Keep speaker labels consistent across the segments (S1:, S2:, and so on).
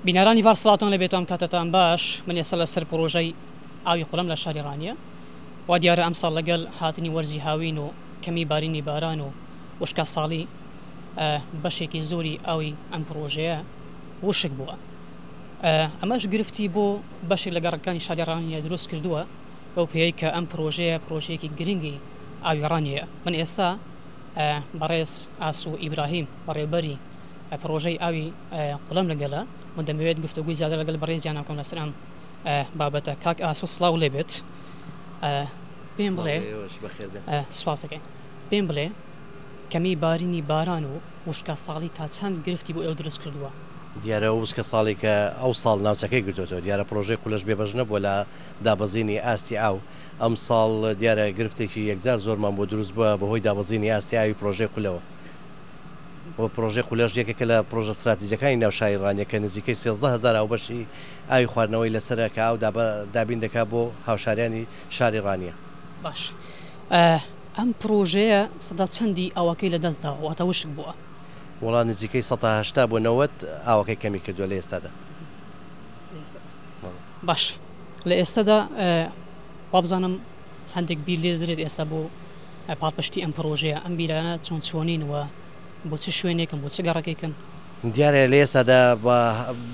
S1: بینەرانی ڤار سڵاتان لە بێتام کاتەتان باش من ئێستا لەسەر پرۆژەی ئاوی قوڵم لە شاری ڕانیە وا دیارە ئەم ساڵ لەگەل هاتنی وەرزی هاوین و کەمی بارینی باران و وشکە ساڵی بەشێکی زۆری ئاوی ئەم پرۆژەیە وشک بووە ئەمەش گرفتی بۆ بەشێک لە گەڕەکانی شاریڕانیە دروست کردووە بەو پێی کە ئەم پرۆژەیە پرۆژەیەکی گرنگی ئاویڕانیە من ئێستا بەڕێز ئاسو ئیبراهیم بەڕێبەری پڕۆژەی ئاوی قلم لەگەلە من دەمەوێت گفتوگوی زیاتر لەگەل بەڕێزیانە بکەم لەسەر ئەم بابەتە کاک ئاسۆ سڵاو لێبێت پێم بڵێ سپاس دەکەین پێم بڵێ کەمی بارینی باران و وشکە ساڵی تا چەند گرفتی بۆ ئێوە دروست کردووە دیارە وشکە
S2: ساڵێکە ئەو ساڵ ناوچەکەی گرتوتەوە دیارە پرۆژەی قولەش بێبەش نەبووە لە دابەزینی ئاستی ئاو ئەم ساڵ دیارە گرفتێکی یەکجار زۆرمان بۆ دروست بووە بەهۆی دابەزینی ئاستی ئاوی پرۆژەی قولەوە و پڕۆژەی قولەش یەکێکە لە پڕۆژە ستراتیجییەکانی ناو شاری ڕانیە کە نزیکەی سێزدە هەزار هاوبەشی ئاوی خواردنەوەی لەسەرە کە ئاو دابین دەکات بۆ هاوشاریانی شاری ڕانیە. باش
S1: ئەم پڕۆژەیە سەدا چەندی ئاوەکەی لە دەست داوە واتە وشک بووە؟ وەڵا نزیکەی
S2: سەتا هەشتا بۆ نەوەد ئاوەکەی کەمی کردووە لە ئێستادا.
S1: باش لە ئێستادا وابزانم هەندێک بیر لێ دەدرێت ئێستا بۆ پاڵپشتی ئەم پڕۆژەیە؟ ئەم بیرانە چۆن چۆنین و بۆ چ شوێنێکن، بۆ چ گەڕەکێکن؟ دیارە لە
S2: ئێستادا بە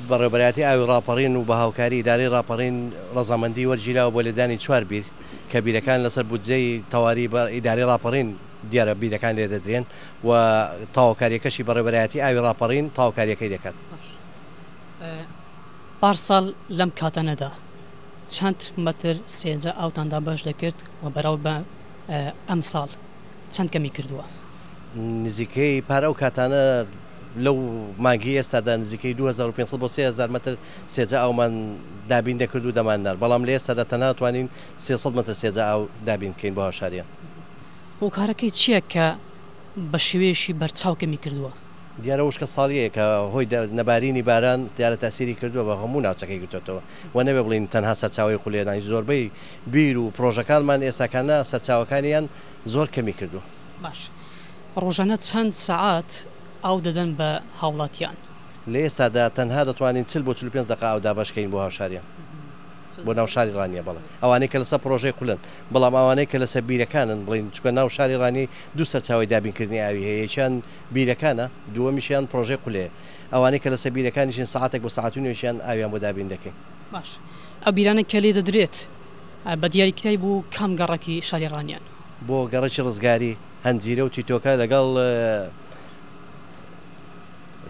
S2: بەڕێوەبەرایەتی ئاوی ڕاپەڕین و بە هاوکاری ئیدارەی ڕاپەڕین ڕەزامەندی وەرگیراوە بۆ لێدانی چوار بیر کە بیرەکان لەسەر بودجەی تەواری ئیدارەی ڕاپەڕین دیارە بیرەکان لێدەدرێن و تاوەکارییەکەشی بەڕێوەبەرایەتی ئاوی ڕاپەڕین تاوەکارییەکەی دەکات. باش
S1: پارساڵ لەم کاتانەدا چەند مەتر سێجا ئاوتان دابەش دەکرد و بەراو بە؟ ئەمساڵ چەند کەمی کردووە؟ نزیکەی
S2: پار ئەو کاتانە لەو مانگی ئێستادا نزیکەی 2500 بۆ 3000 مەتر سێجا ئاومان دابین دەکرد و دەمان نارد، بەڵام لە ئێستادا تەنها توانین 300 مەتر سێجا ئاو دابین بکەین بۆ هاوشاریان. هۆکارەکەی
S1: چییە کە بە شێوەیەکی بەرچاو کەمی کردووە؟ دیارە وشکە
S2: ساڵیەیە کە هۆی نەبارینی باران دیارە تاسیری کردووە بە هەموو ناوچەکەی گرتۆتەوە و نەبێ بڵین تەنها سەرچاوەی قولێنای زۆربەی بیر و پرۆژەکانمان ئێستاکانە سەرچاوەکانیان زۆر کەمی کردووە. باش
S1: ڕۆژانە چەند سەعات ئاو دەدەن بە هاوڵاتیان؟ لە ئێستادا
S2: تەنها دەتوانین چل بۆ چل و پێنج دەقە ئاو دابەش کەین بۆ هاوشاریان بۆ ناو شاری ڕانیە بەڵێ ئەوانەی کە لەسەر پرۆژەی قولن بەڵام ئەوانەی کە لەسەر بیرەکانن بڵین چکە ناو شاری ڕانیەی دوو سەرچاوەی دابین کردنی ئاوی هەیە یەکیان بیرەکانە، دووەمیشیان پرۆژەی قولەیە. ئەوانەی کە لەسەر بیرەکانیشین سەعاتێک بۆ سەعات و نیوێکیان ئاویان بۆ دابین دەکەین. باش
S1: ئەو بیرانە کە لێ دەدرێت بە دیاریکراوی بۆ کام گەڕەکی شاری ڕانیان؟ بۆ گەڕەکی
S2: ڕزگاری، هەنجیرە و تیتۆکە لەگەڵ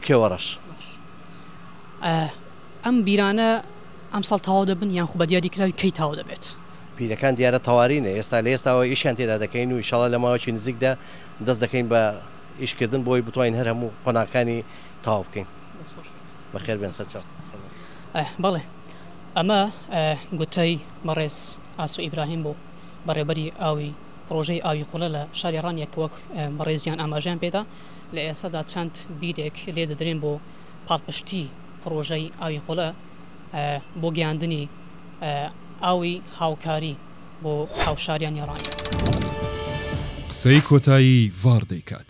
S2: کێوەڕەش. باش
S1: ئەم بیرانە ئەمساڵ تەواو دەبن یان خو بە دیاریکراوی کەی تەواو دەبێت؟ بیرەکان دیارە
S2: تەوارینە ئێستا لە ئێستاوە ئیشیان تێدا دەکەین و ئیشاڵا لە ماوەکی نزیکدا دەست دەکەین بە ئیش کردن بۆی بتوانین هەر هەموو قۆناکانی تاو بکەین بەخێر بێن سەرچاو.
S1: بەڵێ ئەمە گوتەی بەڕێز ئاسۆ ئیبراهیم بوو بەڕێوبەری ئاوی پڕۆژەی ئاوی قوڵە لە شاری ڕانیە کە وەک بەڕێزیان ئاماژەیان پێدا لە ئێستادا چەند بیرێک لێ دەدرێن بۆ پاڵپشتی پڕۆژەی ئاوی قوڵە بۆ گەیاندنی ئاوی هاوکاری. بۆ هاوشاریان
S3: یا ڕاند. قسەی کۆتایی
S1: ڤاڕ
S3: دەیکات.